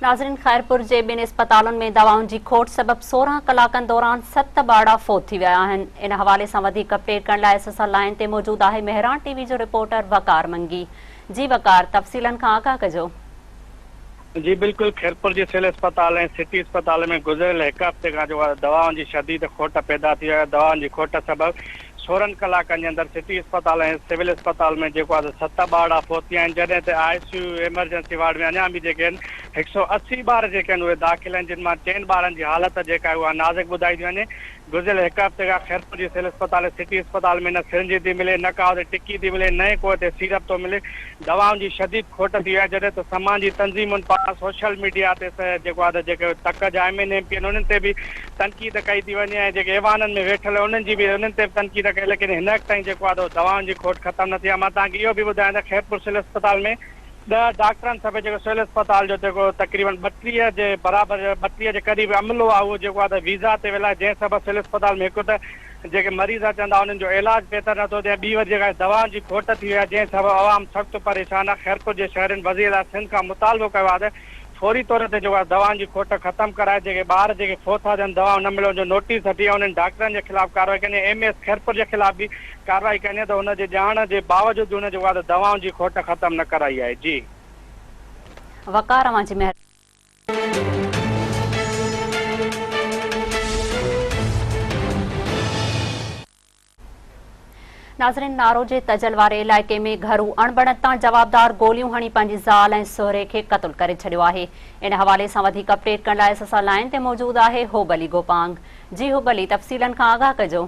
ناظرين خيرپور جي ٻن اسپتالن ۾ دوائن جي کوٽ سبب سورهن ڪلاڪن دوران ست ٻارڙا فوت ٿي ويا آهن ان حوالي سان وڌيڪ اپڊيٽ ڪرڻ لاء اس اس ال لائن تي موجود آهي مهراڻ ٽي وي جو رپورٽر وقار منگي جي وقار تفصيلن کان آگاهه ڪجو جي بلڪل خيرپور جي سول اسپتال ۽ سٽي اسپتال ۾ گذريل هڪ هفتي کان جو دوائن جي شديد کوٽ پيدا ٿي آهي دوائن جي کوٽ سبب سورهن ڪلاڪن جي اندر سٽي اسپتال ۽ سول اسپتال ۾ جيڪو آهي سو ست ٻارڙا فوت ٿيا آهن جڏهن ته I C U emergency ward ۾ اڃا به جيڪي آهن هڪ سؤ اسي ٻار جيڪي آهن اهي داخل آهن جن مان چئن ٻارن جي حالت جيڪا آهي اها نازڪ ٻڌائي ٿي وڃي گذريل هڪ هفتي کان خيرپور جي سول اسپتال ۽ سٽي اسپتال ۾ نه سرنجي ٿي ملي، نه ڪاهو تي ٽڪي ٿي ملي، نه ئي ڪوهه تي سيرپ ٿو ملي. دوائن جي شديد کوٽ ٿي وئي آهي، جڏهن ته سماجي تنظيمن پاران سوشل ميڊيا تي جيڪو آهي ته جيڪي تڪ جا ايم اين ايم پي آهن انهن تي به تنقيد ڪئي ٿي وڃي ۽ جيڪي ايوانن ۾ ويٺل آهن انهن جي به انهن تي به تنقيد ڪئي ليڪن هن وقت تائين جيڪو آهي دوائن جي کوٽ ختم نه ٿي آهي. مان توهان کي اهو به ٻڌايان ته خيرپور سول اسپتال ۾ ڏهه ڊاڪٽرن سڀيئي جيڪو سول اسپتال جو جيڪو تقريبن ٻٽيهه جي برابر ٻٽيهه جي قريب عملو آهي اهو جيڪو آهي ته ويزا تي ويل آهي جنهن سبب سول اسپتال ۾ هڪ ته جيڪي مريض اچن ٿا انهن جو علاج بهتر نٿو ٿئي ٻي وري جيڪا دوائن جي کوٽ ٿي وئي آهي جنهن سبب عوام سخت پريشان آهي خيرپور جي شهرين وزيراعليٰ سنڌ کان مطالبو ڪيو آهي ته فوري طور تي جيڪو آهي دوائن جي کوٽ ختم ڪرائي جيڪي ٻار جيڪي فوت ٿا ٿين دوائون نه ملڻ جو نوٽيس هٽي ۽ انهن ڊاڪٽرن جي خلاف ڪارروائي ڪندي ۽ ايم اي ايس خيرپور جي خلاف به ڪارروائي ڪندي ته هن جي ڄاڻ جي باوجود به هن جيڪو آهي ته دوائن جي کوٽ ختم نه ڪرائي آهي جي. وقار اوهان جي مهرباني. ناظرين نارو جي تجل واري علائقي ۾ گهرو اڻبڻت تان جوابدار گوليون هڻي پنهنجي زال ۽ سهري کي قتل ڪري ڇڏيو آهي ان حوالي سان وڌيڪ اپڊيٽ ڪرڻ لاء اساسان لائين تي موجود آهي حب علي گوپانگ جي حب علي تفصيلن کان آگاهه ڪجو.